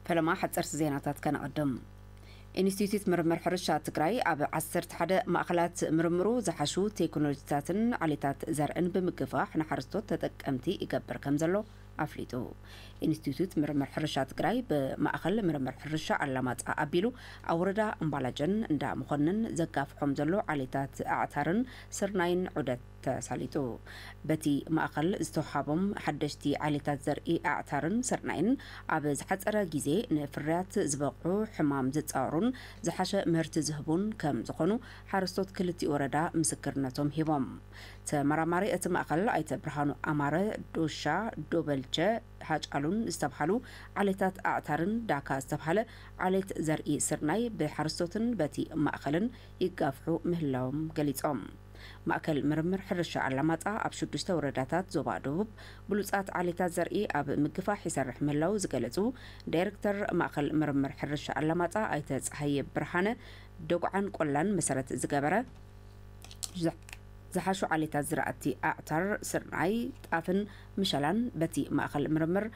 ፈለማ ሓፀርቲ ዜናታት ከነቐድም ኢንስቲትዩት ምርምር ሕርሻ ትግራይ ኣብ 11 ማእኸላት ምርምሩ ዝሓሹ ቴክኖሎጂታትን ዓሌታት ዘርእን ብምግፋሕ ንሓረስቶት ተጠቀምቲ ይገብር ከም ዘሎ ኣፍሊጡ። ኢንስቲትዩት ምርምር ሕርሻ ትግራይ ብማእኸል ምርምር ሕርሻ ኣላማጣ ኣቢሉ ኣብ ወረዳ እምባላጀን እንዳ መኮንን ዘጋፍሖም ዘሎ ዓሌታት ኣዕታርን ስርናይን ዑደት ተሳሊጡ። በቲ ማእኸል ዝተውሃቦም ሓደሽቲ ዓሌታት ዘርኢ ኣዕታርን ስርናይን ኣብ ዝሓፀረ ግዜ ንፍርያት ዝበቕዑ፣ ሕማም ዝፃወሩን ዝሓሸ ምህርቲ ዝህቡን ከምዝኾኑ ሓረስቶት ክልቲኡ ወረዳ ምስክርነቶም ሂቦም። ተመራማሪ እቲ ማእኸል ኣይተ ብርሃኑ ኣማረ፣ ዶሻ፣ ዶበልቸ፣ ሃጫሉን ዝተብሃሉ ዓሌታት ኣዕታርን ዳካ ዝተብሃለ ዓሌት ዘርኢ ስርናይ ብሓረስቶትን በቲ ማእኸልን ይጋፍሑ ምህላዎም ገሊፆም። ማእከል ምርምር ሕርሻ ኣላማጣ ኣብ ሽዱሽተ ወረዳታት ዞባ ደቡብ ብሉፃት ዓሌታት ዘርኢ ኣብ ምግፋሕ ይሰርሕ ምህላዉ ዝገለፁ ዳይሬክተር ማእኸል ምርምር ሕርሻ ኣላማጣ ኣይተ ፀሃየ ብርሃነ ደጉዓን ቆላን መሰረት ዝገበረ ዝሓሹ ዓሌታት ዝራእቲ ኣዕታር፣ ስርናይ፣ ጣፍን ምሸላን በቲ ማእኸል ምርምር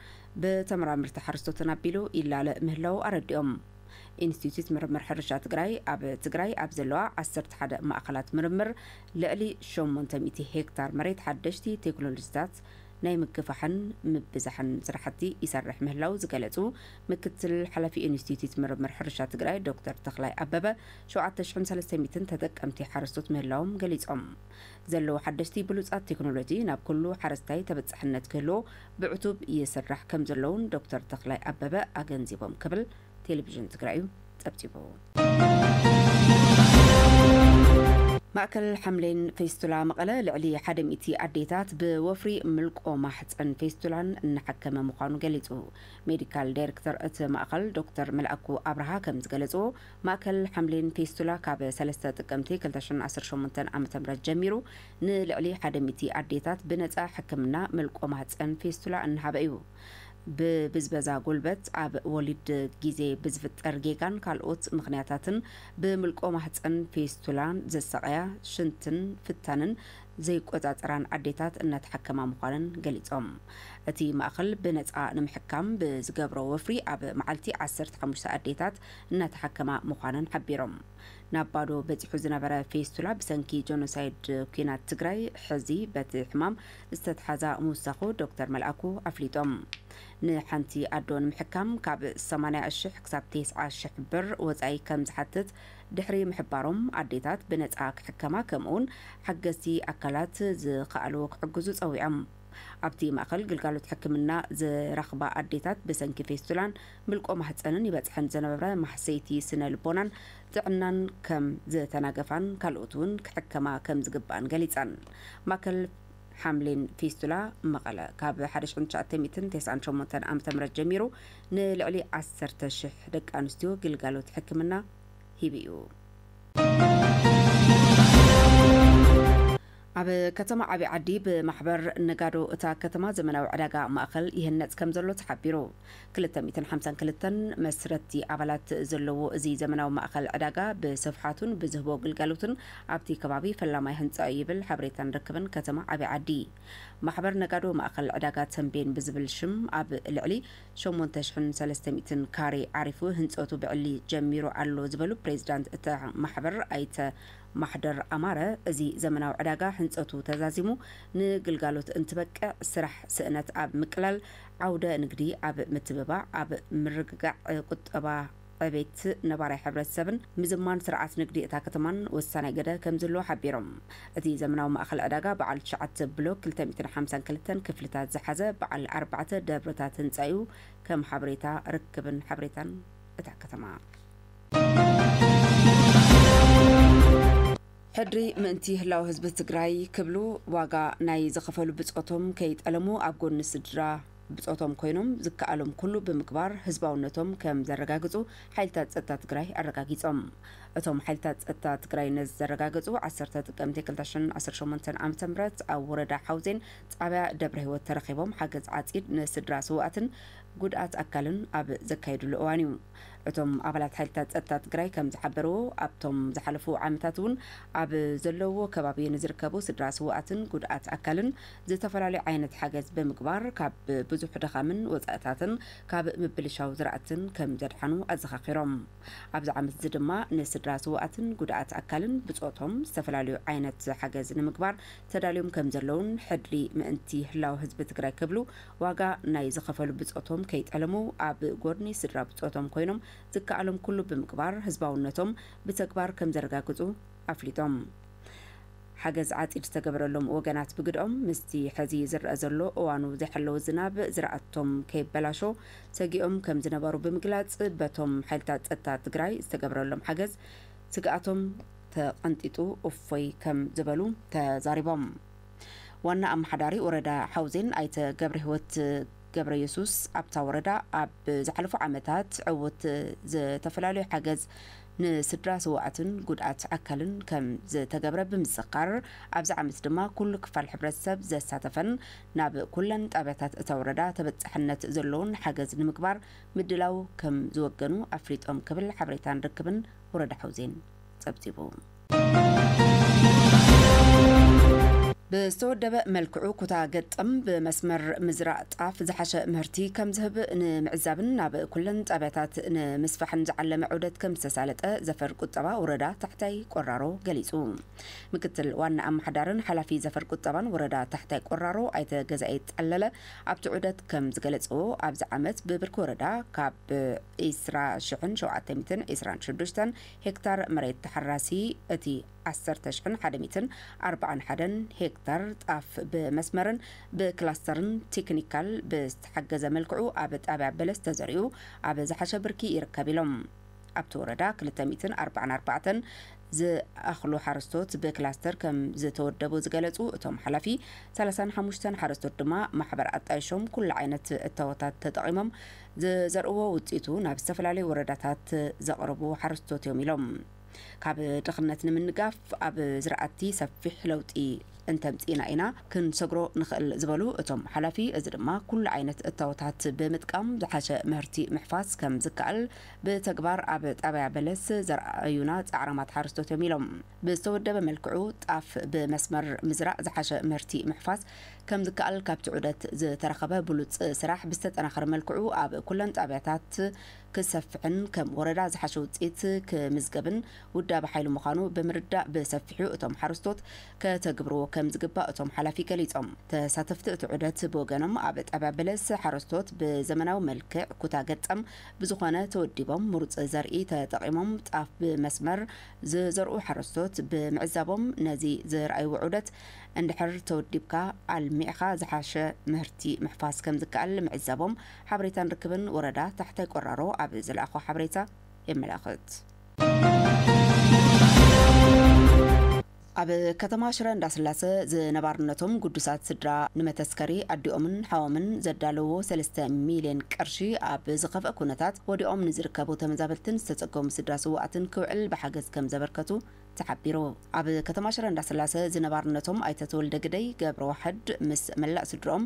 ብተመራመርቲ ሓረስቶትን ኣቢሉ ይላለ ምህላዉ ኣረዲኦም። ኢንስቲትዩት ምርምር ሕርሻ ትግራይ ኣብ ትግራይ ኣብ ዘለዋ ዓሰርተ ሓደ ማእኸላት ምርምር ልዕሊ ሸሞንተ ሚእቲ ሄክታር መሬት ሓደሽቲ ቴክኖሎጂታት ናይ ምግፋሕን ምብዛሕን ስራሕቲ ይሰርሕ ምህላዉ ዝገለፁ ምክትል ሓላፊ ኢንስቲትዩት ምርምር ሕርሻ ትግራይ ዶክተር ተኽላይ ኣበበ ሸውዓተ ሽሕን ሰለስተ ሚእትን ተጠቀምቲ ሓረስቶት ምህላዎም ገሊፆም። ዘለዉ ሓደሽቲ ብሉፃት ቴክኖሎጂ ናብ ኩሉ ሓረስታይ ተበፃሕነት ክህልዎ ብዕቱብ ይስራሕ ከምዘሎ እውን ዶክተር ተኽላይ ኣበበ ኣገንዚቦም ክብል ቴሌቪዥን ትግራይ ፀብፂቡ። ማእከል ሓምሌን ፌስቱላ መቐለ ልዕሊ ሓደ ሚእቲ ኣዴታት ብወፍሪ ምልቆ ማሕፀን ፌስቱላን እናሓከመ ምዃኑ ገሊፁ። ሜዲካል ዳይሬክተር እቲ ማእኸል ዶክተር መልኣኩ ኣብርሃ ከምዝገለፅዎ ማእከል ሓምሊን ፊስቱላ ካብ ሰለስተ ጥቅምቲ ክልተ ሽሕን ዓሰርተ ሸሞንተን ዓመተ ምህረት ጀሚሩ ንልዕሊ ሓደ ሚእቲ ኣዴታት ብነጻ ሕክምና ምልቆ ማህጸን ፌስቱላ እናሃበ እዩ። ብብዝበዛ ጉልበት፣ ኣብ ወሊድ ግዜ ብዝፍጠር ጌጋን ካልኦት ምኽንያታትን ብምልቆ ማህጸን ፌስቱላ ዝሳቐያ ሽንትን ፍታንን ዘይቆጻጸራን ኣዴታት እናተሓከማ ምዃነን ገሊጾም። እቲ ማእከል ብነጻ ንምሕካም ብዝገብሮ ወፍሪ ኣብ መዓልቲ ዓሰርተ ሓሙሽተ ኣዴታት እናተሓከማ ምዃነን ሓቢሮም። ናብ ባዶ በጺሑ ዝነበረ ፌስቱላ ብሰንኪ ጆኖሳይድ ኲናት ትግራይ ሕዚ በቲ ሕማም ዝተትሓዛ ምውሳኹ ዶክተር መልኣኩ ኣፍሊጦም። ንሓንቲ ኣዶ ንምሕካም ካብ ሰማንያ ሽሕ ክሳብ ቴስዓ ሽሕ ብር ወጻኢ ከም ዝሓትት ድሕሪ ምሕባሮም ኣዴታት ብነጻ ክሕከማ ከምኡውን ሓገዝቲ ኣካላት ዝከኣሉ ክሕግዙ ጸዊዖም። ኣብቲ ማእከል ግልጋሎት ሕክምና ዝረኽባ ኣዴታት ብሰንኪ ፌስቱላን ምልቆ ማህጸንን ይበጽሐን ዝነበረ ማህሰይቲ ስነ ልቦናን ጥዕናን ከም ዝተናገፋን ካልኦት እውን ክሕከማ ከም ዝግባኣን ገሊጸን። ማእከል ሓምሊን ፊስቱላ መቐለ ካብ ሓደ ሽሕን ትሽዓተ ሚእትን ተስዓን ሸሞንተን ዓመተ ምህረት ጀሚሩ ንልዕሊ ዓሰርተ ሽሕ ደቂ ኣንስትዮ ግልጋሎት ሕክምና ሂቡ እዩ። ኣብ ከተማ ዓብይ ዓዲ ብማሕበር ነጋዶ እታ ከተማ ዘመናዊ ዕዳጋ ማእኸል ይህነፅ ከምዘሎ ተሓቢሩ። ክልተ ሚእትን ሓምሳን ክልተን መስረትቲ ኣባላት ዘለዎ እዚ ዘመናዊ ማእኸል ዕዳጋ ብስፍሓቱን ብዝህቦ ግልጋሎትን ኣብቲ ከባቢ ፈላማይ ህንፃ ዩ ይብል ሓበሬታን ርክብን ከተማ ዓብይ ዓዲ። ማሕበር ነጋዶ ማእኸል ዕዳጋ ተምቤን ብዝብል ሽም ኣብ ልዕሊ ሸሞንተ ሽሕን ሰለስተ ሚእትን ካሬ ዓሪፉ ህንፀቱ ብዕሊ ጀሚሩ ኣሎ ዝበሉ ፕሬዚዳንት እታ ማሕበር ኣይተ ማሕደር ኣማረ እዚ ዘመናዊ ዕዳጋ ሕንጸቱ ተዛዚሙ ንግልጋሎት እንትበቅዕ ስራሕ ስእነት ኣብ ምቅላል፣ ዓውደ ንግዲ ኣብ ምትብባዕ፣ ኣብ ምርግጋዕ ቁጠባ ዕቤት ነባራይ ሕብረተሰብን ምዝማን ስርዓት ንግዲ እታ ከተማን ወሳናይ ግደ ከምዝህልዎ ሓቢሮም። እቲ ዘመናዊ ማእኸል ዕዳጋ በዓል ትሽዓተ ብሎክ ክልተ ሚእትን ሓምሳን ክልተን ክፍልታት ዝሓዘ በዓል ኣርባዕተ ደብርታት ህንፃ ኢዩ ከም ሓበሬታ ርክብን ሓበሬታን እታ ከተማ። ሕድሪ ምእንቲ ህላው ህዝቢ ትግራይ ክብሉ ዋጋ ናይ ዝኸፈሉ ብፆቶም ከይጠለሙ ኣብ ጎኒ ስድራ ብፆቶም ኮይኖም ዝከኣሎም ኩሉ ብምግባር ህዝባውነቶም ከም ዘረጋግፁ ሓይልታት ፀጥታ ትግራይ ኣረጋጊፆም። እቶም ሓይልታት ፀጥታ ትግራይ ነዚ ዘረጋገፁ ዓሰርተ ጥቅምቲ ክልተ ሽሕን ዓሰርተ ሸሞንተን ዓመተ ምህረት ኣብ ወረዳ ሓውዜን ጣብያ ደብረህይወት ተረኺቦም ሓገዝ ዓፂድ ንስድራ ስውኣትን ጉድኣት ኣካልን ኣብ ዘካየድሉ እዋን እዩ። እቶም ኣባላት ሓይልታት ፀጥታ ትግራይ ከም ዝሓበርዎ፣ ኣብቶም ዝሓለፉ ዓመታት እውን ኣብ ዘለውዎ ከባቢ ንዝርከቡ ስድራ ስውኣትን ጉድኣት ኣካልን ዝተፈላለዩ ዓይነት ሓገዝ ብምግባር ካብ ብዙሕ ድኻምን ወፃእታትን ካብ ምብልሻው ዝራእትን ከም ዘድሓኑ ኣዘኻኺሮም። ኣብዚ ዓመት እዚ ድማ ንስድራ ስውኣትን ጉድኣት ኣካልን ብፆቶም ዝተፈላለዩ ዓይነት ሓገዝ ንምግባር ተዳልዮም ከም ዘለውን ሕድሪ ምእንቲ ህላወ ህዝቢ ትግራይ ክብሉ ዋጋ ናይ ዝኸፈሉ ብጾቶም ከይጠለሙ ኣብ ጎድኒ ስድራ ብጾቶም ኮይኖም ዝከኣሎም ኩሉ ብምግባር ህዝባውነቶም ብተግባር ከምዘረጋግጹ ኣፍሊጦም። ሓገዝ ዓጺድ ዝተገበረሎም ወገናት ብግደኦም፣ ምስቲ ሕዚ ዝረኣ ዘሎ እዋኑ ዘይሓለወ ዝናብ ዝራእቶም ከይበላሾ ሰጊኦም ከምዝነበሩ ብምግላጽ፣ በቶም ሓይልታት ጸጥታ ትግራይ ዝተገብረሎም ሓገዝ ስግኣቶም ተቐንጢጡ እፎይ ከም ዝበሉ ተዛሪቦም። ዋና ኣመሓዳሪ ወረዳ ሓውዜን ኣይተ ገብረሂወት ገብረየሱስ ኣብታ ወረዳ ኣብ ዝሓለፉ ዓመታት ዕውት ዝተፈላለዩ ሓገዝ ንስድራ ስዋኣትን ጉድኣት ኣካልን ከም ዝተገብረ ብምዝኻር ኣብዚ ዓመት ድማ ኩሉ ክፋል ሕብረተሰብ ዘሳተፈን ናብ ኩለን ጣብያታት እታ ወረዳ ተበፃሕነት ዘለዎን ሓገዝ ንምግባር ምድላው ከም ዝወገኑ ኣፍሊጦም ክብል ሓበሬታን ርክብን ወረዳ ሓውዜን ፀብፂቡ። ብዝተወደበ መልክዑ ኩታ ገጠም ብመስመር ምዝራእ ጣፍ ዝሓሸ ምህርቲ ከም ዝህብ ንምዕዛብን ናብ ኩለን ጣብያታት ንምስፋሕን ዝዓለመ ዑደት ከም ዝተሳለጠ ዘፈር ቁጠባ ወረዳ ታሕታይ ቆራሮ ገሊፁ። ምክትል ዋና ኣመሓዳርን ሓላፊ ዘፈር ቁጠባን ወረዳ ታሕታይ ቆራሮ ኣይተ ገዛኢ ጠለለ ኣብቲ ዑደት ከም ዝገለፅዎ ኣብዚ ዓመት ብብርኪ ወረዳ ካብ ዒስራ ሽሕን ሸውዓተ ሚእትን ዒስራን ሽዱሽተን ሄክታር መሬት ተሓራሲ እቲ ዓሰርተ ሽሕን ሓደ ሚትን ኣርባዓን ሓደን ሄክታር ጣፍ ብመስመርን ብክላስተርን ቲክኒካል ብዝተሓገዘ መልክዑ ኣብ ጣብያ በለስ ተዘሪኡ ኣብ ዝሓሸ ብርኪ ይርከብ ኢሎም። ኣብቲ ወረዳ ክልተ ሚትን ኣርባዓን ኣርባዕተን ዝኣኽሉ ሓረስቶት ብክላስተር ከም ዝተወደቡ ዝገለፁ እቶም ሓላፊ፣ ሰላሳን ሓሙሽተን ሓረስቶት ድማ ማሕበር ኣጣይሾም ኩሉ ዓይነት እታወታት ተጠቒሞም ዝዘርእዎ ውፅኢቱ ናብ ዝተፈላለዩ ወረዳታት ዘቕርቡ ሓረስቶት እዮም ኢሎም። ካብ ድኽነት ንምንጋፍ ኣብ ዝራእቲ ሰፊሕ ለውጢ እንተምፂእና ኢና ክንሰግሮ ንኽእል ዝበሉ እቶም ሓላፊ፣ እዚ ድማ ኩሉ ዓይነት እታወታት ብምጥቃም ዝሓሸ ምህርቲ ምሕፋስ ከምዝከኣል ብተግባር ኣብ ጣብያ በለስ ዘርኣዩና ፃዕራማት ሓረስቶት እዮም ኢሎም። ብዝተወደበ መልክዑ ጣፍ ብመስመር ምዝራእ ዝሓሸ ምህርቲ ምሕፋስ ከምዝከኣል ካብቲ ዑደት ዝተረኸበ ብሉፅ ስራሕ ብዝተጠናኸረ መልክዑ ኣብ ኩለን ጣብያታት ክሰፍሕን ከም ወረዳ ዝሓሸ ውፅኢት ክምዝገብን ውዳበ ሓይሊ ምዃኑ ብምርዳእ ብሰፊሑ እቶም ሓረስቶት ከተግብርዎ ከምዝግባእ እቶም ሓላፊ ገሊፆም። ተሳተፍቲ እቲ ዑደት ብወገኖም ኣብ ጣብያ በለስ ሓረስቶት ብዘመናዊ መልክዕ ኩታ ገጠም ብዝኾነ ተወዲቦም ምሩፅ ዘርኢ ተጠቒሞም ጣፍ ብመስመር ዝዘርኡ ሓረስቶት ብምዕዛቦም ነዚ ዘርኣይዎ ዑደት እንድሕር ተወዲብካ ኣልሚዕኻ ዝሓሸ ምህርቲ ምሕፋስ ከምዝከኣል ምዕዛቦም ሓበሬታን ርክብን ወረዳ ታሕታይ ቆራሮ ኣብ ዝለኣኾ ሓበሬታ የመላኽት። ኣብ ከተማ ሽረ እንዳስላሰ ዝነባርነቶም ግዱሳት ስድራ ንመተስከሪ ኣዲኦምን ሓዎምን ዘዳለውዎ ሰለስተ ሚልየን ቅርሺ ኣብ ዝኸፍኣ ኩነታት ወዲቖም ንዝርከቡ ተመዛበልትን ዝተፀገሙ ስድራ ስውኣትን ክውዕል ብሓገዝ ከምዘበርከቱ ተሓቢሩ። ኣብ ከተማ ሽረ እንዳስላሰ ዝነባርነቶም ኣይተ ተወልደ ግደይ ገብረዋሕድ ምስ መላእ ስድርኦም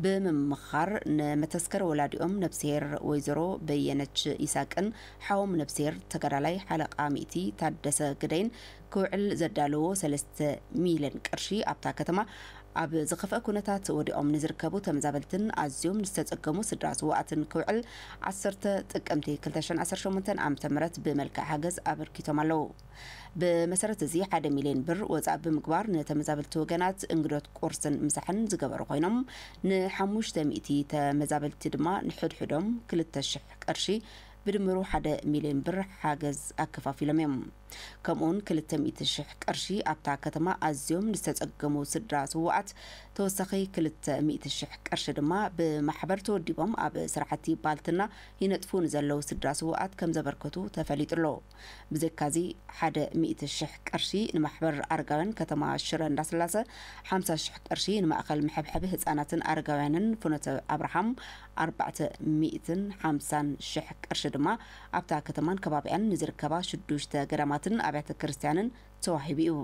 ብምምኻር ንመተስከሪ ወላዲኦም ነብስሄር ወይዘሮ በየነች ይሳቅን ሓዎም ነብስሄር ተጋዳላይ ሓለቓ ሚእቲ ታደሰ ግደይን ክውዕል ዘዳለዎ ሰለስተ ሚልዮን ቅርሺ ኣብታ ከተማ ኣብ ዝኸፍኣ ኩነታት ወዲቖም ንዝርከቡ ተመዛበልትን ኣዝዮም ንዝተጸገሙ ስድራ ስውኣትን ክውዕል ዓሰርተ ጥቅምቲ ክልተ ሽሕን ዓሰርተ ሸሞንተን ዓመተ ምህረት ብመልክዕ ሓገዝ ኣበርኪቶም ኣለዉ። ብመሰረት እዚ ሓደ ሚልዮን ብር ወጻኢ ብምግባር ንተመዛበልቲ ወገናት እንግዶት ቁርስን ምሳሕን ዝገበሩ ኮይኖም ንሓሙሽተ ሚእቲ ተመዛበልቲ ድማ ንሕድሕዶም ክልተ ሽሕ ቅርሺ ብድምሩ ሓደ ሚልዮን ብር ሓገዝ ኣከፋፊሎም እዮም። ከምኡውን ክልተ ሚእቲ ሽሕ ቅርሺ ኣብታ ከተማ ኣዝዮም ንዝተጸገሙ ስድራ ስዉኣት ተወሳኺ ክልተ ሚእቲ ሽሕ ቅርሺ ድማ ብማሕበር ተወዲቦም ኣብ ስራሕቲ ባልትና ይነጥፉ ንዘለዉ ስድራ ስዉኣት ከም ዘበርከቱ ተፈሊጡ ኣሎ። ብዘካዚ ሓደ ሚእቲ ሽሕ ቅርሺ ንማሕበር ኣረጋውያን ከተማ ሽረ እንዳስላሰ፣ ሓምሳ ሽሕ ቅርሺ ንማእከል መሐብሐቢ ህጻናትን ኣረጋውያንን ፍኖተ ኣብርሃም፣ ኣርባዕተ ሚእትን ሓምሳን ሽሕ ቅርሺ ድማ ኣብታ ከተማን ከባቢኣን ንዝርከባ ሽዱሽተ ገዳማትን ኣብያተ ክርስቲያንን ተዋሂቡ እዩ።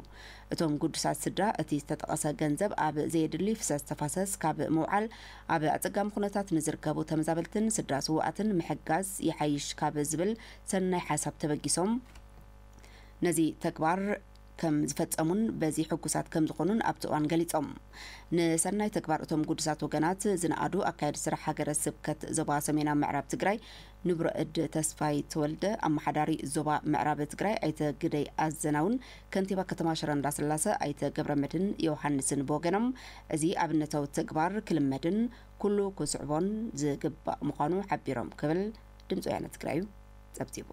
እቶም ግዱሳት ስድራ እቲ ዝተጠቐሰ ገንዘብ ኣብ ዘየድሊ ፍሰስ ተፋሰስ ካብ ምውዓል ኣብ ኣፀጋሚ ኩነታት ንዝርከቡ ተመዛበልትን ስድራ ስውኣትን ምሕጋዝ ይሓይሽ ካብ ዝብል ሰናይ ሓሳብ ተበጊሶም ነዚ ተግባር ከም ዝፈጸሙን በዚ ሕጉሳት ከም ዝኾኑን ኣብቲ እዋን ገሊጾም። ንሰናይ ተግባር እቶም ግዱሳት ወገናት ዝነኣዱ ኣካያዲ ስራሕ ሃገረ ስብከት ዞባ ሰሜናዊ ምዕራብ ትግራይ ንቡረ እድ ተስፋይ ተወልደ፣ ኣመሓዳሪ ዞባ ምዕራብ ትግራይ ኣይተ ግደይ ኣዘናውን ከንቲባ ከተማ ሽረ እንዳስላሰ ኣይተ ገብረመድህን ዮውሃንስን ብወገኖም እዚ ኣብነታዊ ተግባር ክልመድን ኩሉ ክስዕቦን ዝግባእ ምዃኑ ሓቢሮም ክብል ድምፂ ወያነ ትግራዩ ፀብፂቡ።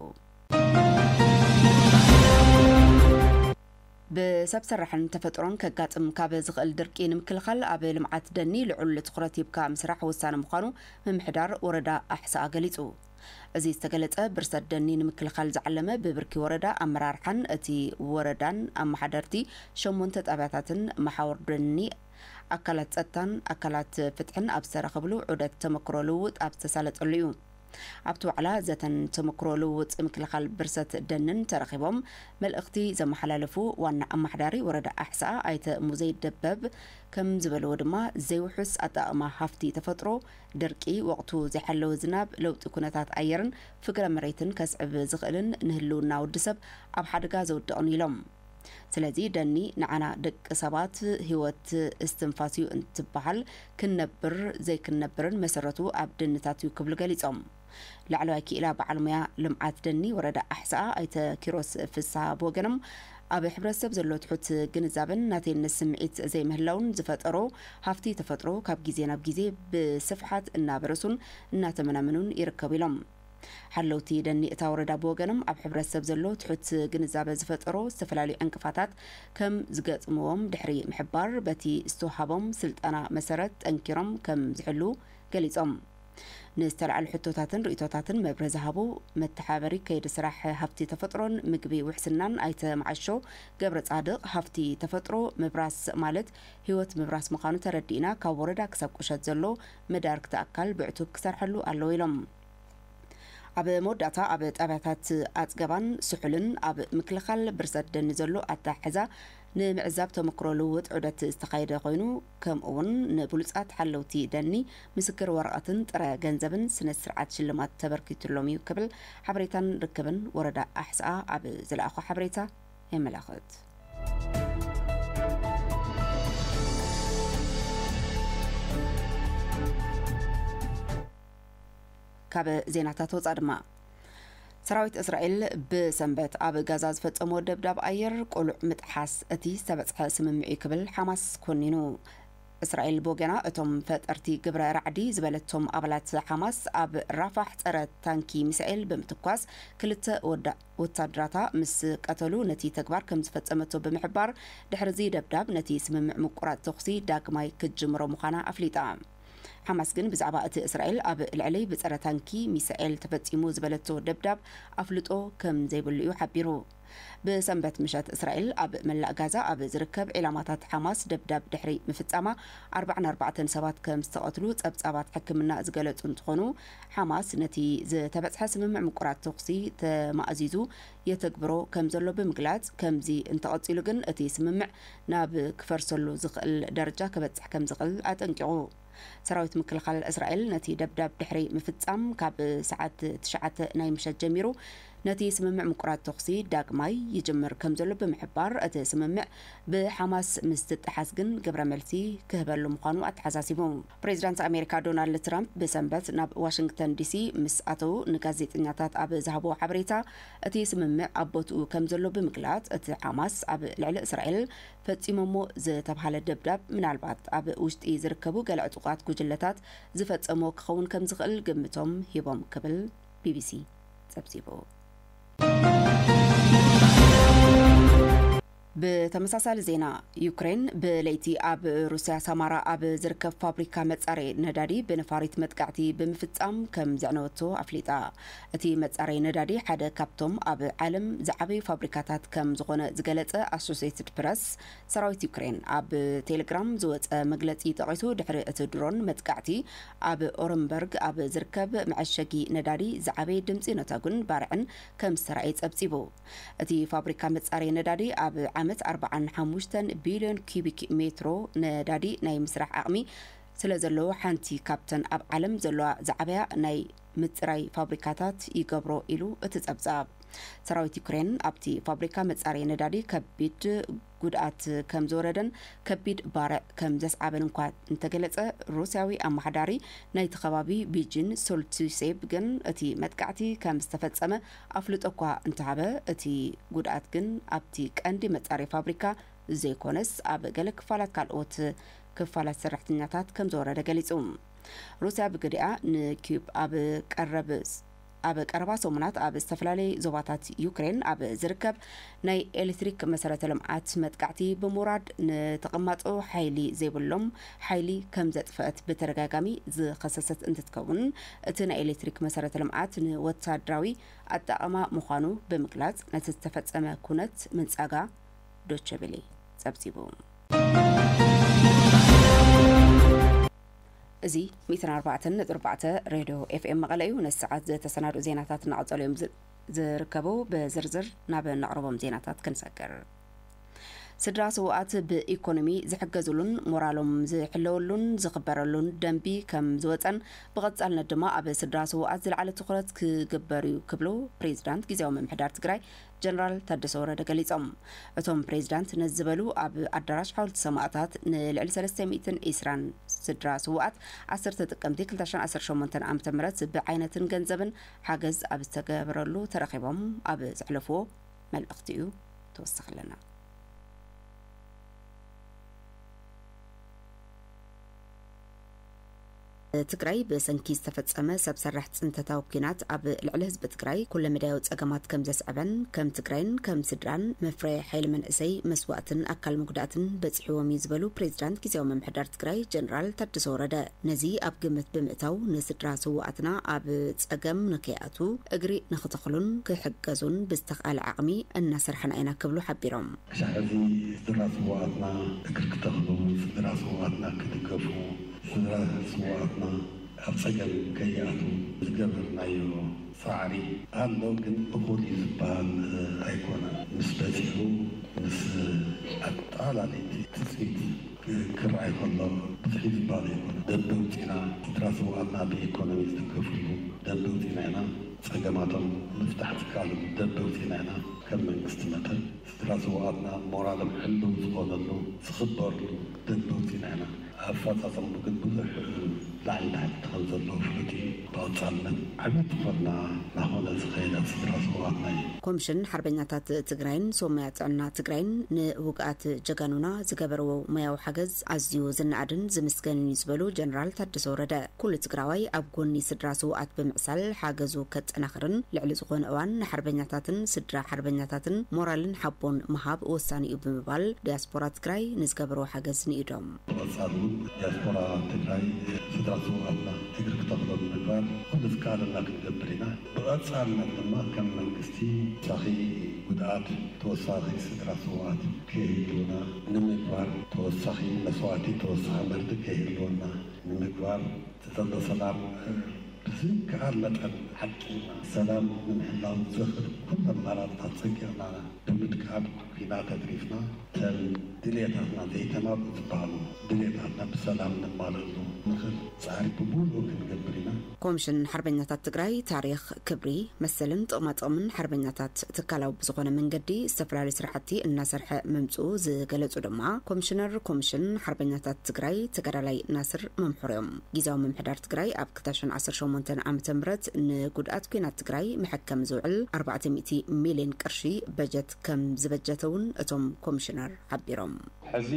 ብሰብ ሰራሕን ተፈጥሮን ከጋጥም ካብ ዝኽእል ድርቂ ንምክልኻል ኣብ ልምዓት ደኒ ልዑል ትኹረት ሂብካ ምስራሕ ወሳኒ ምዃኑ ምምሕዳር ወረዳ ኣሕስኣ ገሊፁ። እዚ ዝተገለፀ ብርሰት ደኒ ንምክልኻል ዝዓለመ ብብርኪ ወረዳ ኣመራርሓን እቲ ወረዳን ኣመሓደርቲ ሸሞንተ ጣብያታትን መሓውር ደኒ ኣካላት ፀጥታን ኣካላት ፍትሕን ኣብ ዝተረኸብሉ ዑደት ተመክሮ ልውውጥ ኣብ ዝተሳለጠሉ እዩ። ኣብቲ ዋዕላ ዘተን ተመክሮ ልውውጥ ምክልኻል ብርሰት ደንን ተረኺቦም መልእኽቲ ዘመሓላለፉ ዋና ኣማሓዳሪ ወረዳ ኣሕስኣ ኣይተ ሙዘይ ደበብ ከምዝበልዎ ድማ ዘይውሑስ ኣጠቓቕማ ሃፍቲ ተፈጥሮ፣ ድርቂ፣ ወቕቱ ዘይሓለወ ዝናብ፣ ለውጢ ኩነታት ኣየርን ፍግረ መሬትን ከስዕብ ዝኽእልን ንህልውና ወዲ ሰብ ኣብ ሓደጋ ዘውድቕን ኢሎም። ስለዚ ደኒ ንዓና ደቂ ሰባት ህይወት እስትንፋስ እዩ እንትበሃል ክንነብር ዘይክንነብርን መሰረቱ ኣብ ደንታት እዩ ክብሉ ገሊፆም። ላዕለዋይ ክኢላ በዓል ሙያ ልምዓት ደኒ ወረዳ ኣሕስኣ ኣይተ ኪሮስ ፍስሃ ብወገኖም ኣብ ሕብረተሰብ ዘሎ ትሑት ግንዛበን ናተይነት ስምዒት ዘይምህላውን ዝፈጠሮ ሃፍቲ ተፈጥሮ ካብ ግዜ ናብ ግዜ ብስፍሓት እናበረሱን እናተመናመኑን ይርከቡ ኢሎም። ሓለውቲ ደኒ እታ ወረዳ ብወገኖም ኣብ ሕብረተሰብ ዘሎ ትሑት ግንዛበ ዝፈጠሮ ዝተፈላለዩ ዕንቅፋታት ከም ዝገጥምዎም ድሕሪ ምሕባር በቲ ዝተውሃቦም ስልጠና መሰረት ጠንኪሮም ከም ዝሕልው ገሊፆም። ንዝተልዓሉ ሕቶታትን ርእይቶታትን መብርሂ ዝሃቡ መተሓባበሪ ከይዲ ስራሕ ሃፍቲ ተፈጥሮን ምግቢ ውሕስናን ኣይተ መዓሾ ገብረፃድቕ ሃፍቲ ተፈጥሮ ምብራስ ማለት ህይወት ምብራስ ምዃኑ ተረዲእና ካብ ወረዳ ክሳብ ቁሸት ዘሎ መዳርግቲ ኣካል ብዕቱብ ክሰርሐሉ ኣለዎ ኢሎም። ኣብ መወዳእታ ኣብ ጣብያታት ኣፅገባን ስሑልን ኣብ ምክልኻል ብርሰት ደኒ ዘሎ ኣተሓሕዛ ንምዕዛብ ተመክሮ ልውውጥ ዑደት ዝተኻየደ ኮይኑ ከምኡ እውን ንብሉፃት ሓለውቲ ደኒ ምስክር ወረቐትን ጥረ ገንዘብን ስነ ስርዓት ሽልማት ተበርኪቱሎም እዩ ክብል ሓበሬታን ርክብን ወረዳ ኣሕስኣ ኣብ ዝለኣኾ ሓበሬታ የመላኽት። ካብ ዜናታት ወፃ ድማ ሰራዊት እስራኤል ብሰንበት ኣብ ጋዛ ዝፈፀሞ ደብዳብ ኣየር ቆሉዕ ምጥሓስ እቲ ዝተበፅሐ ስምምዕ እዩ ክብል ሓማስ ኮኒኑ እስራኤል ብወገና እቶም ፈጠርቲ ግብረ ራዕዲ ዝበለቶም ኣባላት ሓማስ ኣብ ራፋሕ ፀረ ታንኪ ሚሳኤል ብምትኳስ ክልተ ወዳ ወታደራታ ምስ ቀተሉ ነቲ ተግባር ከም ዝፈጸመቶ ብምሕባር፣ ድሕሪ'ዚ ደብዳብ ነቲ ስምምዕ ምቁራጽ ተኹሲ ዳግማይ ክትጅምሮ ምዃና ኣፍሊጣ። ሓማስ ግን ብዛዕባ እቲ እስራኤል ኣብ ልዕለይ ብጸረ ታንኪ ሚሳኤል ተፈጺሙ ዝበለቶ ደብዳብ ኣፍልጦ ከም ዘይብሉ'ዩ ሓቢሩ። ብሰንበት ምሸት እስራኤል ኣብ መላእ ጋዛ ኣብ ዝርከብ ዒላማታት ሓማስ ደብዳብ ድሕሪ ምፍጻማ ኣርባዓን ኣርባዕተን ሰባት ከም ዝተቐትሉ ጸብጻባት ሕክምና ዝገለጹ እንትኾኑ፣ ሓማስ ነቲ ዝተበጽሐ ስምምዕ ምቁራጽ ተኹሲ ተማእዚዙ የተግብሮ ከምዘሎ ብምግላጽ፣ ከምዚ እንተቐጺሉ ግን እቲ ስምምዕ ናብ ክፈርሰሉ ዝኽእል ደረጃ ከበጽሕ ከምዝኽእል ኣጠንቂቑ። ሰራዊት ምክልኻል እስራኤል ነቲ ደብዳብ ድሕሪ ምፍጻም፣ ካብ ሰዓት ትሽዓተ ናይ ምሸት ጀሚሩ ነቲ ስምምዕ ምቁራጽ ተኹሲ ዳግማይ ይጅምር ከምዘሎ ብምሕባር፣ እቲ ስምምዕ ብሓማስ ምስ ዝጠሓስ ግን ግብረ መልሲ ክህበሉ ምዃኑ ኣተሓሳሲቡ። ፕሬዚዳንት ኣሜሪካ ዶናልድ ትራምፕ ብሰንበት ናብ ዋሽንግተን ዲሲ ምስ ኣተዉ ንጋዜጠኛታት ኣብ ዝሃብዎ ሓበሬታ እቲ ስምምዕ ኣብ ቦትኡ ከም ዘሎ ብምግላፅ እቲ ሓማስ ኣብ ልዕሊ እስራኤል ፈፂሞሞ ዝተብሃለ ደብዳብ ምናልባት ኣብ ውሽጢ ዝርከቡ ገለ ዕጡቓት ጉጅለታት ዝፈፀሞ ክኸውን ከም ዝኽእል ግምቶም ሂቦም ክብል ቢቢሲ ፀብፂቡ። ብተመሳሳሊ ዜና ዩክሬን ብለይቲ ኣብ ሩስያ ሳማራ ኣብ ዝርከብ ፋብሪካ መጻረይ ነዳዲ ብነፋሪት መጥቃዕቲ ብምፍጻም ከም ዘዕነወቶ ኣፍሊጣ። እቲ መጻረይ ነዳዲ ሓደ ካብቶም ኣብ ዓለም ዝዓበዩ ፋብሪካታት ከም ዝኾነ ዝገለጸ ኣሶሴትድ ፕረስ፣ ሰራዊት ዩክሬን ኣብ ቴሌግራም ዝወጸ መግለጺ ጠቒሱ ድሕሪ እቲ ድሮን መጥቃዕቲ ኣብ ኦረምበርግ ኣብ ዝርከብ መዐሸጊ ነዳዲ ዝዓበየ ድምጺ ነተጉን ባርዕን ከም ዝተራእየ ጸብጺቡ። እቲ ፋብሪካ መፃረዪ ነዳዲ ኣብ ዓመት ኣርብዓን ሓሙሽተን ቢልዮን ኪዩቢክ ሜትሮ ነዳዲ ናይ ምስራሕ ዓቕሚ ስለዘለዎ ሓንቲ ካብተን ኣብ ዓለም ዘለዋ ዝዓበያ ናይ ምፅራይ ፋብሪካታት ይገብሮ ኢሉ እቲ ፀብፃብ። ሰራዊት ዩክሬን ኣብቲ ፋብሪካ መፃረዪ ነዳዲ ከቢድ ጉድኣት ከም ዝወረደን ከቢድ ባርዕ ከም ዘስዓበን እንኳ እንተገለጸ፣ ሩስያዊ ኣመሓዳሪ ናይቲ ከባቢ ቢጂን ሶልቲሴብ ግን እቲ መጥቃዕቲ ከም ዝተፈጸመ ኣፍልጦ እኳ እንተሃበ፣ እቲ ጉድኣት ግን ኣብቲ ቀንዲ መጻረዪ ፋብሪካ ዘይኮነስ ኣብ ገለ ክፋላት ካልኦት ክፋላት ሰራሕተኛታት ከም ዝወረደ ገሊጹ። ሩስያ ብግዲኣ ንኪዩብ ኣብ ቀረብ ኣብ ቀረባ ሰሙናት ኣብ ዝተፈላለየ ዞባታት ዩክሬን ኣብ ዝርከብ ናይ ኤሌክትሪክ መሰረተ ልምዓት መጥቃዕቲ ብምውራድ ንተቐማጦ ሓይሊ ዘይብሎም ሓይሊ ከም ዘጥፈአት ብተደጋጋሚ ዝኸሰሰት እንትትከውን እቲ ናይ ኤሌክትሪክ መሰረተ ልምዓት ንወታደራዊ ኣጠቓቕማ ምዃኑ ብምግላፅ ነቲ ዝተፈፀመ ኩነት ምንፃጋ ዶቸቤሌ ፀብፂቡ። እዚ ሚትን ኣርባዕተን ነጥቢ ኣርባዕተ ሬድዮ ኤፍኤም መቐለ እዩ። ነዚ ሰዓት ዝተሰናድኡ ዜናታት እናቐጸሉ እዮም ዝ- ዝርከቡ። ብዝርዝር ናብ እነቕርቦም ዜናታት ክንሰግር ስድራ ስውኣት ብኢኮኖሚ ዝሕገዝሉን ሞራሎም ዝሕለወሉን ዝኽበረሉን ደንቢ ከም ዝወፀን ብቐጻልነት ድማ ኣብ ስድራ ስውኣት ዝለዓለ ትኹረት ክግበር እዩ ክብሉ ፕሬዚዳንት ግዜያዊ ምምሕዳር ትግራይ ጀነራል ታደሰ ወረደ ገሊፆም። እቶም ፕሬዚዳንት ነዚ ዝበሉ ኣብ ኣዳራሽ ሓወልቲ ሰማእታት ንልዕሊ ሰለስተ ሚእትን ዒስራን ስድራ ስውኣት ዓሰርተ ጥቅምቲ ክልተ ሽሕን ዓሰርተ ሸሞንተን ዓመተ ምህረት ብዓይነትን ገንዘብን ሓገዝ ኣብ ዝተገበረሉ ተረኺቦም ኣብ ዘሕለፍዎ መልእኽቲ እዩ። ተወሳኺ ኣለና። ትግራይ ብሰንኪ ዝተፈፀመ ሰብ ሰራሕ ፅንተታዊ ኩናት ኣብ ልዕሊ ህዝቢ ትግራይ ኩለመዳያዊ ፀገማት ከም ዘስዐበን ከም ትግራይን ከም ስድራን መፍረየ ሓይሊ መንእሰይ መስዋእትን ኣካል መጉዳእትን በፂሕዎም እዩ ዝበሉ ፕሬዚዳንት ግዜያዊ ምምሕዳር ትግራይ ጀነራል ታደሰ ወረደ ነዚ ኣብ ግምት ብምእታው ንስድራ ስዋኣትና ኣብ ፀገም ንከይኣትዉ እግሪ ንክተኽሉን ክሕገዙን ብዝተኽኣለ ዓቕሚ እናሰርሐና ኢና ክብሉ ሓቢሮም። ክሳዕ ሕዚ ስድራ ስውኣትና እግሪ ክተኽሉ፣ ስድራ ስውኣትና ክድገፉ፣ ስድራ ስውኣትና ኣብ ጸገም ከይኣትዉ ዝገበርናዮ ጻዕሪ ኣሎ ግን እኹል እዩ ዝብሃል ኣይኮነን ምስ በጺሑ ምስ ኣጠቓላሊት ትጽቢት ክርኣይ ከሎ ብዝሒ ዝብሃል ኣይኮነን ደምበ ውጺና ስድራ ስውኣትና ብኢኮኖሚ ዝድገፍሉ ደምበ ውጺና ኢና ጸገማቶም ምፍታሕ ዝከኣለሉ ደምበ ውጺና ኢና ከም መንግስቲ መጠን ድሕሪ ስውኣትና ሞራሎም ሕልው ዝኾነሉ ዝኽበርሉ ደንበውቲ ንሕና። ኣፈፃፀምኡ ግን ብዙሕ ላዕሊ ታሕቲ ከም ዘለዎ ፍሉጥ እዩ። ብቐፃልነት ዓብይ ትኹረትና ናኾነ ዝኸይድ ኣብ ስድራ ስውኣትና እዩ። ኮምሽን ሓርበኛታት ትግራይን ሶማያ ጥዕና ትግራይን ንውግኣት ጀጋኑና ዝገበርዎ ሞያዊ ሓገዝ ኣዝዩ ዝነኣድን ዝምስገንን እዩ ዝበሉ ጀነራል ታደሰ ወረደ፣ ኩሉ ትግራዋይ ኣብ ጎኒ ስድራ ስውኣት ብምዕሳል ሓገዙ ከጠናኽርን ልዕሊ ዝኾነ እዋን ንሓርበኛታትን ስድራ ሓርበኛታትን ሞራልን ሓቦን ምሃብ ወሳኒ እዩ ብምባል ዲያስፖራ ትግራይ ንዝገበርዎ ሓገዝ ንኢዶም። ብቐፃሊ እውን ዲያስፖራ ትግራይ ስድራ ስውኣትና እግሪ ክተኽሉ ንምግባር ኩሉ ዝከኣለና ክንገብር ኢና። ብቐፃልነት ድማ ከም መንግስቲ ተወሳኺ ጉድኣት ተወሳኺ ስድራ ስውኣት ከይህልውና ንምግባር ተወሳኺ መስዋእቲ ተወሳኺ መርድእ ከይህልወና፣ ንምግባር ዝጠሎ ሰላም ብዝከኣል መጠን ዓቂብና ሰላም ንምሕላው ዘኽእሉ ኩሉ ኣማራፅታት ፀንቂቕና ብምጥቃም ኩናት ኣትሪፍና እተን ድልየታትና ዘይተማልኡ ዝበሃሉ ድልየታትና ብሰላም ነማልእሉ ንኽእል ፃዕሪ ብሙሉኡ ክንገብር ኢና። ኮምሽን ሓርበኛታት ትግራይ ታሪኽ፣ ክብሪ፣ መሰልን ጥቕማጥቕምን ሓርበኛታት ትካላዊ ብዝኾነ መንገዲ ዝተፈላለዩ ስራሕቲ እናሰርሐ ምምፅኡ ዝገለፁ ድማ ኮምሽነር ኮምሽን ሓርበኛታት ትግራይ ተጋዳላይ ናስር መምሑር እዮም። ጊዜያዊ ምምሕዳር ትግራይ ኣብ ክልተ ሽሕን ዓሰርተ ሸሞንተን ዓመተ ምህረት ንጉድኣት ኲናት ትግራይ መሐከሚ ዝውዕል ኣርባዕተ ሚእቲ ሚሊየን ቅርሺ በጀት ከምዝበጀተ እውን እቶም ኮምሽነር ሓቢሮም። ሕዚ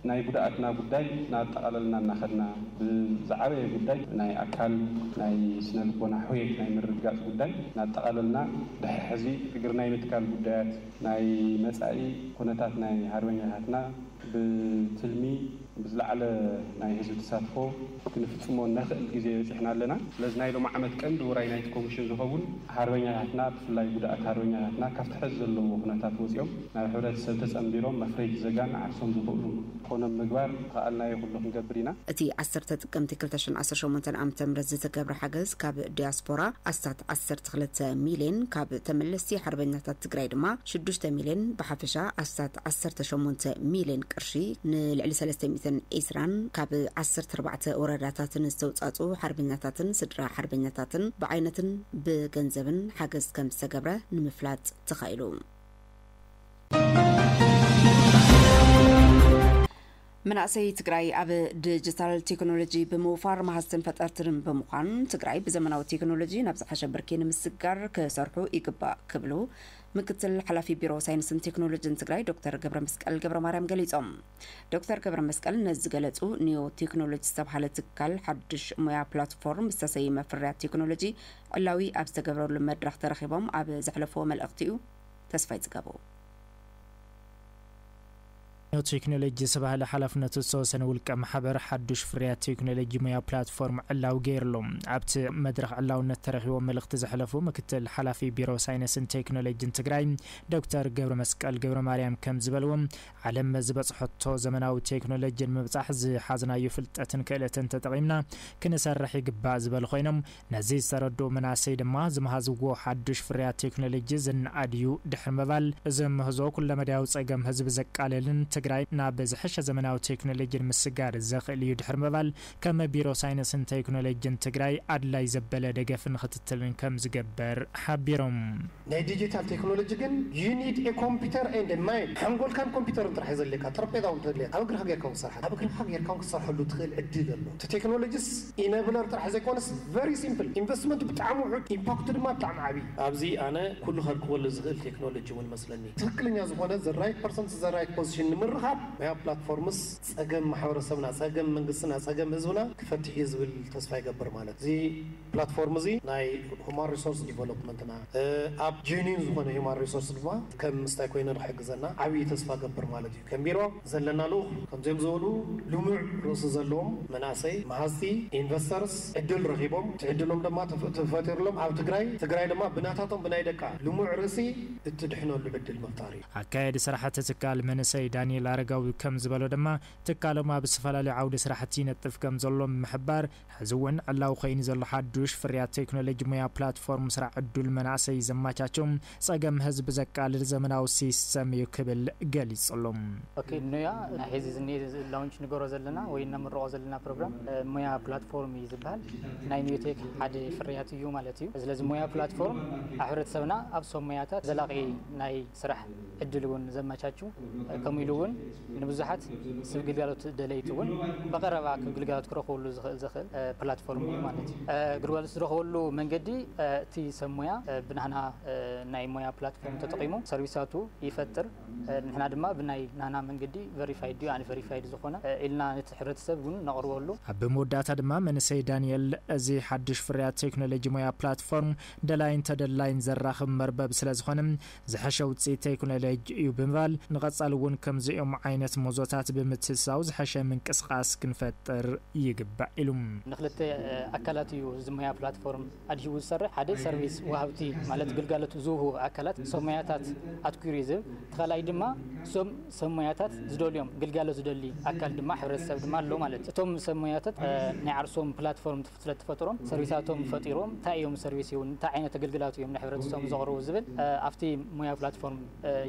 ናይ ጉድኣትና ጉዳይ ናጠቓለልና እናኸድና ብዝዓበየ ጉዳይ ናይ ኣካል ናይ ስነ ልቦና ሕውየት ናይ ምርግጋፅ ጉዳይ ናጠቓለልና ድሕሪ ሕዚ እግሪ ናይ ምትካል ጉዳያት ናይ መፃኢ ኩነታት ናይ ሃርበኛታትና ብትልሚ ብዝለዓለ ናይ ህዝቢ ተሳትፎ ክንፍጽሞ እነኽእል ግዜ በጺሕና ኣለና። ስለዚ ናይ ሎሚ ዓመት ቀንዲ ውራይ ናይቲ ኮሚሽን ዝኸውን ሃርበኛታትና ብፍላይ ጉዳኣት ሃርበኛታትና ካብቲ ሐዚ ዘለውዎ ኩነታት ወጺኦም ናብ ሕብረተሰብ ተጸንቢሮም መፍረይቲ ዘጋን ዓርሶም ዝኽእሉ ክኾኖም ምግባር ዝኸኣልናዮ ኩሉ ክንገብር ኢና። እቲ ዓሰርተ ጥቅምቲ ክልተ ሽሕን ዓሰርተ ሸሞንተን ዓመተ ምህረት ዝተገብረ ሓገዝ ካብ ዲያስፖራ ኣስታት ዓሰርተ ክልተ ሚልየን ካብ ተመለስቲ ሓርበኛታት ትግራይ ድማ ሽዱሽተ ሚልየን ብሓፈሻ ኣስታት ዓሰርተ ሸሞንተ ሚልየን ቅርሺ ቅርሺ ንልዕሊ ሰለስተ ሚእትን ዒስራን ካብ ዓሰርተ ኣርባዕተ ወረዳታትን ዝተውፃፅኡ ሓርበኛታትን ስድራ ሓርበኛታትን ብዓይነትን ብገንዘብን ሓገዝ ከም ዝተገብረ ንምፍላጥ ተኻኢሉ። መናእሰይ ትግራይ ኣብ ዲጂታል ቴክኖሎጂ ብምውፋር መሃዝትን ፈጠርትን ብምዃን ትግራይ ብዘመናዊ ቴክኖሎጂ ናብ ዝሓሸ ብርኪ ንምስጋር ክሰርሑ ይግባእ ክብሉ ምክትል ሓላፊ ቢሮ ሳይንስን ቴክኖሎጅን ትግራይ ዶክተር ገብረመስቀል ገብረማርያም ገሊፆም። ዶክተር ገብረመስቀል ነዚ ዝገለፁ ኒዮ ቴክኖሎጂ ዝተብሃለ ትካል ሓዱሽ ሙያ ፕላትፎርም ዝተሰይመ ፍርያት ቴክኖሎጂ ዕላዊ ኣብ ዝተገብረሉ መድረኽ ተረኺቦም ኣብ ዘሕለፍዎ መልእኽቲ እዩ። ተስፋይ ፅጋቡ። ኒው ቴክኖሎጂ ዝተባህለ ሓላፍነቱ ዝተወሰነ ውልቀ ማሕበር ሓዱሽ ፍርያት ቴክኖሎጂ ሙያ ፕላትፎርም ዕላዊ ገይሩ'ሎ። ኣብቲ መድረኽ ዕላውነት ተረኪቦም መልእኽቲ ዘሕለፉ ምክትል ሓላፊ ቢሮ ሳይነስን ቴክኖሎጂን ትግራይ ዶክተር ገብረመስቀል ገብረማርያም ከምዝበልዎ ዓለም ዝበፅሐቶ ዘመናዊ ቴክኖሎጂ ንምብፃሕ ዝሓዝናዮ ፍልጠትን ክእለትን ተጠቒምና ክንሰርሕ ይግባእ ዝበሉ ኮይኖም ነዚ ዝተረድኡ መናእሰይ ድማ ዝመሃዝዎ ሓዱሽ ፍርያት ቴክኖሎጂ ዝነኣድ እዩ ድሕሪ ምባል እዚ ምህዞ ኩለመዳያዊ ፀገም ህዝቢ ዘቃልልን ትግራይ ናብ ዝሐሸ ዘመናዊ ቴክኖሎጂ ንምስጋር ዘኽእል እዩ ድሕሪ ምባል ከም ቢሮ ሳይንስን ቴክኖሎጂን ትግራይ ኣድላይ ዘበለ ደገፍን ኽትትልን ከምዝገበር ሓቢሮም። ናይ ዲጂታል ቴክኖሎጂ ግን you need a computer and a mind ሓንጎልካን ኮምፒተርን ጥራሕ እዩ ዘድልየካ ጠረጴዛ ውን ተድልየካ ኣብ እግርካ ጌርካ ውን ክትሰርሓ ኣብ እግርካ ጌርካ ውን ክትሰርሐሉ ትክእል ዕድል ኣሎ እቲ ቴክኖሎጂስ ኢነብለር ጥራሕ ዘይኮነስ very simple ኢንቨስትመንቱ ብጣዕሚ ውሑድ ኢምፓክቱ ድማ ብጣዕሚ ዓብይ እዩ ኣብዚ ኣነ ኩሉ ከርክበሉ ዝክእል ቴክኖሎጂ ውን መስለኒ። ትክክለኛ ዝኮነ the right person to the right position ንምርካብ Maya Platforms ፀገም ማሕበረሰብና ፀገም መንግስትና ፀገም ህዝብና ክፈትሕ እዩ ዝብል ተስፋ ይገብር ማለት እዚ ፕላትፎርም እዚ ናይ ሁማን ሪሶርስ ዲቨሎፕመንትና ኣብ ጀኒን ዝኾነ ሁማን ሪሶርስ ድማ ከም ምስታይ ኮይኑ ንክሕግዘና ዓብይ ተስፋ እገብር ማለት እዩ። ከም ቢሮ ዘለና ልኡኽ ከምዚኦም ዝበሉ ልሙዕ ርእሲ ዘለዎም መናእሰይ መሃዝቲ፣ Investors፣ ዕድል ረኺቦም እቲ ዕድሎም ድማ ተፈጢሩሎም ኣብ ትግራይ ትግራይ ድማ ብናታቶም ብናይ ደቃ ልሙዕ ርእሲ እትድሕነሉ ዕድል ምፍጣር እዩ። ኣካያዲ ስራሕቲ ትካል መንእሰይ ዳኒኤል ኣረጋዊ ከም ዝበሎ ድማ ትካሎም ኣብ ዝተፈላለዩ ዓውዲ ስራሕቲ ይነጥፍ ከም ዘሎ ብምሕባር ሕዚ እውን ዕላዊ ኮይኑ ዘሎ ሓዱሽ ፍርያት ቴክኖሎጂ ሙያ ፕላትፎርም ስራሕ ዕዱል መናእሰይ ዘማቻቹ ፀገም ህዝቢ ዘቃልል ዘመናዊ ሲስተም እዩ ክብል ገሊፁሉ። ኦኬ ኑያ ናይ ሐዚ ዝኒኤ ላውንች ንገሮ ዘለና ወይ እነምርቆ ዘለና ፕሮግራም ሙያ ፕላትፎርም እዩ ዝብሃል ናይ ኑቴክ ሓደ ፍርያት እዩ ማለት እዩ ስለዚ ሙያ ፕላትፎርም ኣብ ሕብረተሰብና ኣብ ሶብ ሙያታት ዘላቂ ናይ ስራሕ ዕድል እውን ዘመቻቹ ከምኡ ኢሉ እውን ንብዙሓት ስብ ግልጋሎት ደለይቲ እውን ብቐረባ ግልጋሎት ክረኽብሉ ዝኽእል ዘኽእል ፕላትፎርም እዩ ማለት እዩ። ግልጋሎት ዝረኽበሉ መንገዲ እቲ ሰብ ሞያ ብናህና ናይ ሞያ ፕላትፎርም ተጠቒሙ ሰርቪሳቱ ይፈጥር ንሕና ድማ ብናይ ናህና መንገዲ ቨሪፋይድ ድዩ ኣንቨሪፋይድ ዝኾነ ኢልና ነቲ ሕብረተሰብ እውን ነቕርበሉ። ኣብ መወዳእታ ድማ መንእሰይ ዳኒኤል እዚ ሓዱሽ ፍርያት ቴክኖሎጂ ሞያ ፕላትፎርም ደላይን ተደላይን ዘራኽብ መርበብ ስለዝኾነ ዝሐሸ ውፅኢት ቴክኖሎጂ እዩ ብምባል ንቐፃሊ እውን ከምዚኦም ዓይነት ሞዞታት ብምትእትታው ዝሐሸ ምንቅስቓስ ክንፈጥር ይግባእ ኢሉ። ንክልተ ኣካላት እዩ እዚ ሞያ ፕላትፎርም ኣድሂቡ ዝሰርሕ። ሓደ ሰርቪስ ወሃብቲ ማለት ግልጋሎት ዝህቡ ኣካላት ሰብ ሞያታት ኣትኲሩ እዩ ዝህብ። እቲ ካልኣይ ድማ እዞም ሰብ ሞያታት ዝደልዮም ግልጋሎት ዝደሊ ኣካል ድማ ሕብረተሰብ ድማ ኣሎ ማለት እዩ። እቶም ሰብ ሞያታት ናይ ዓርሶም ፕላትፎርም ስለ እትፈጥሮም ሰርቪሳቶም ፈጢሮም ታይ እዮም ሰርቪስ ይሁን እንታይ ዓይነት ኣገልግላቱ እዮም ንሕብረተሰቦም ዘቕርቡ ዝብል ኣብቲ ሞያዊ ፕላትፎርም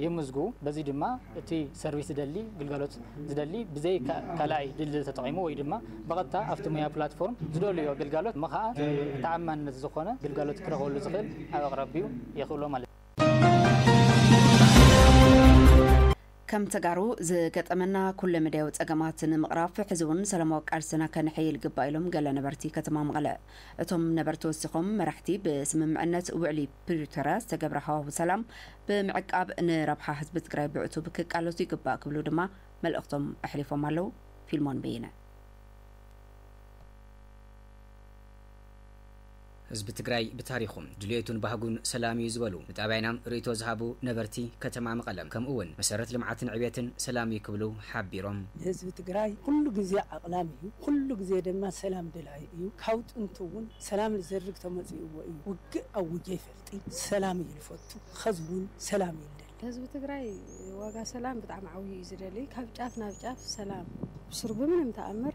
የምዝግቡ በዚ ድማ እቲ ሰርቪስ ዝደሊ ግልጋሎት ዝደሊ ብዘይ ካልኣይ ድልድል ተጠቒሙ ወይ ድማ ብቐጥታ ኣብቲ ሞያዊ ፕላትፎርም ዝደልዮ ግልጋሎት ምኸኣ ተኣማንነት ዝኾነ ግልጋሎት ክረኽበሉ ዝኽእል ኣብ ኣቕራቢኡ የኽእሎ ማለት እዩ። ከም ተጋሩ ዝገጠመና ኩለ መዳያዊ ፀገማት ንምቕራፍ ሕዚ እውን ሰላማዊ ቃልስና ከነሐይል ይግባእ ኢሎም ገለ ነበርቲ ከተማ መቐለ። እቶም ነበርቲ ወሲኾም መራሕቲ ብስምምዕነት ውዕሊ ፕሪቶርያ ዝተገብረ ሃዋሁ ሰላም ብምዕቃብ ንረብሓ ህዝቢ ትግራይ ብዕቱብ ክቃለሱ ይግባእ ክብሉ ድማ መልእኽቶም ኣሕሊፎም ኣለው። ፊልሞን በየነ። ህዝቢ ትግራይ ብታሪኹ ድልየቱን ባህጉን ሰላም እዩ ዝበሉ ንጣብያና ርእይቶ ዝሃቡ ነበርቲ ከተማ መቐለ ከምኡ እውን መሰረት ልምዓትን ዕብየትን ሰላም እዩ ክብሉ ሓቢሮም። ህዝቢ ትግራይ ኹሉ ግዜ ዓቕላም እዩ፣ ኹሉ ግዜ ድማ ሰላም ደላይ እዩ፣ ካብ ጥንቲ እውን ሰላም ልዘርግ ተመፂኡዎ እዩ፣ ውግእ ኣዊጀ ኣይፈልጥይ፣ ሰላም እዩ ልፈቱ፣ ኸዚ እውን ሰላም እዩ ልደሊ። ህዝቢ ትግራይ ዋጋ ሰላም ብጣዕሚ ዓብዩ እዩ ዝደሊ ካብ ጫፍ ናብ ጫፍ ሰላም ብስሩ ብምንም ተኣምር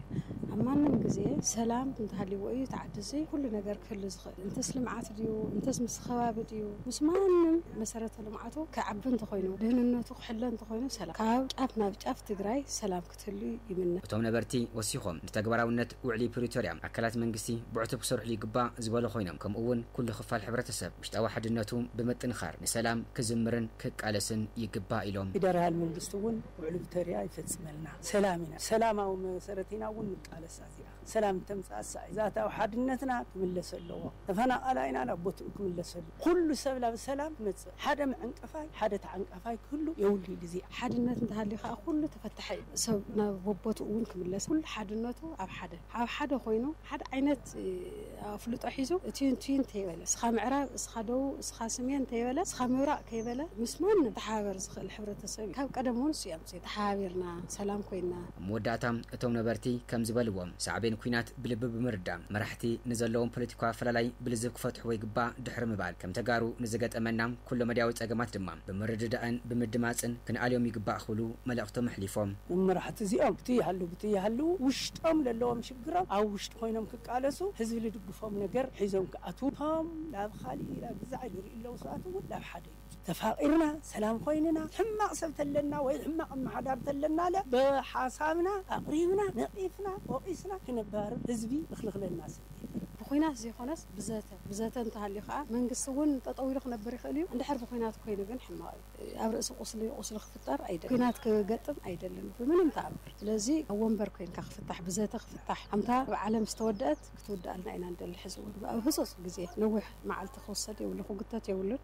ኣብ ማንም ግዜ ሰላም እንተሃልይዎ እዩ እቲ ዓዲ እዚ ኩሉ ነገር ክህሉ ዝኽእል እንተስ ልምዓት ድዩ እንተስ ምስ ኸባቢ ድዩ ምስ ማንም መሰረተ ልምዓቱ ክዓቢ እንተኾይኑ ድህንነቱ ክሕሎ እንተኾይኑ ሰላም ካብ ጫፍ ናብ ጫፍ ትግራይ ሰላም ክህሉ ይምነ። እቶም ነበርቲ ወሲኾም ንተግባራዊነት ውዕሊ ፕሪቶርያ ኣካላት መንግስቲ ብዕቱብ ክሰርሕሉ ይግባእ ዝበሉ ኮይኖም ከምኡ እውን ኩሉ ክፋል ሕብረተሰብ ውሽጣዊ ሓድነቱ ብምጥንኻር ንሰላም ክዝምርን ክቃለስን ይግባእ ኢሎም። ፌደራል መንግስቲ እውን ውዕሊ ፕሪቶርያ ይፈፅመልና ሰላም ኢና ሰላማዊ መሰረት ኢና እውን ንቃለስ ኣዚኣ። ሰላም ተምጻእ ሳዕዛታዊ ሓድነትና ክምለስ ኣለዎ ተፈናቃላይና ናብ ቦትኡ ክምለስ ኣለዎ ኩሉ ሰብ ላብ ሰላም ክመጽእ ሓደ መዐንቀፋይ ሓደ ተዓንቃፋይ ክህሉ የውሉይ ግዜ ሓድነት እንተሃልዩ ከኣ ኩሉ ተፈታሒ እዩ ሰብ ናብ ቦቦትኡ እውን ክምለስ ኩሉ ሓድነቱ ኣብ ሓደ ኣብ ሓደ ኮይኑ ሓደ ዓይነት ኣፍልጦ ሒዙ እትዩን ትዩን ተይበለ እስኻ ምዕራብ እስኻ ደቡብ እስኻ ስሜን ተይበለ እስኻ ምብራቅ ከይበለ ምስ ማንም ክተሓባበር ዝኽእል ሕብረተሰብ እዩ ካብ ቀደም እውን እሱ ሲ ተሓባቢርና ሰላም ኮይንና። ኣብ መወዳእታ እቶም ነበርቲ ከምዚ በልዎ፣ ሳዕቤን ኲናት ብልቢ ብምርዳእ፣ መራሕቲ ንዘለዎም ፖለቲካዊ ኣፈላላይ ብልዝብ ክፈትሕዎ ይግባእ ድሕሪ ምባል፣ ከም ተጋሩ ንዝገጠመና ኩለመዳያዊ ጸገማት ድማ ብምርድዳእን ብምድማጽን ክንኣልዮም ይግባእ ክብሉ መልእኽቶም ኣሕሊፎም። እዞም መራሕቲ እዚኦም ብቲ ይሃሉ ብቲ ይሃሉ ውሽጦም ለለዎም ሽግሮም ኣብ ውሽጢ ኮይኖም ክቃለሱ ህዝቢ ልድግፎም ነገር ሒዞም ክኣትዉ እቶም ላብ ኻሊእ ላብ እዛ ኢሉ ሪኡ ለዉ ሰባት እዉን ላብ ሓደ ተፋቂርና ሰላም ኮይንና ሕማቅ ሰብ ተለና ወይ ሕማቅ ኣማሓዳሪ ተለናለ ብሓሳብና ኣቅሪብና ነቂፍና ወቂስና ክነባርር ህዝቢ እክልክለና ሰብ የለን። ብኩናት ዘይኮነስ ብዘተ ብዘተ እንተሃልዩ ከኣ መንግስቲ ውን ጠጠው ኢሉ ክነብር ይክእል እዩ እንድሕር ብኩናት ኮይኑ ግን ሕማቅ እዩ ኣብ ርእሲ ቁስሊ ቁስሊ ክፍጠር ኣይደልን ኩናት ክገጥም ኣይደልን ብምንም ተኣምር ስለዚ ኣብ ወንበር ኮይንካ ክፍታሕ ብዘተ ክፍታሕ ኣምታ ኣብ ዓለም ዝተወደኣት ክትውደኣልና ኢና ንደሊ ሕዚ ውን ብኣብ ህጹጽ ግዜ ነዊሕ መዓልቲ ክውሰድ የብሉ ክጉተት የብሉን።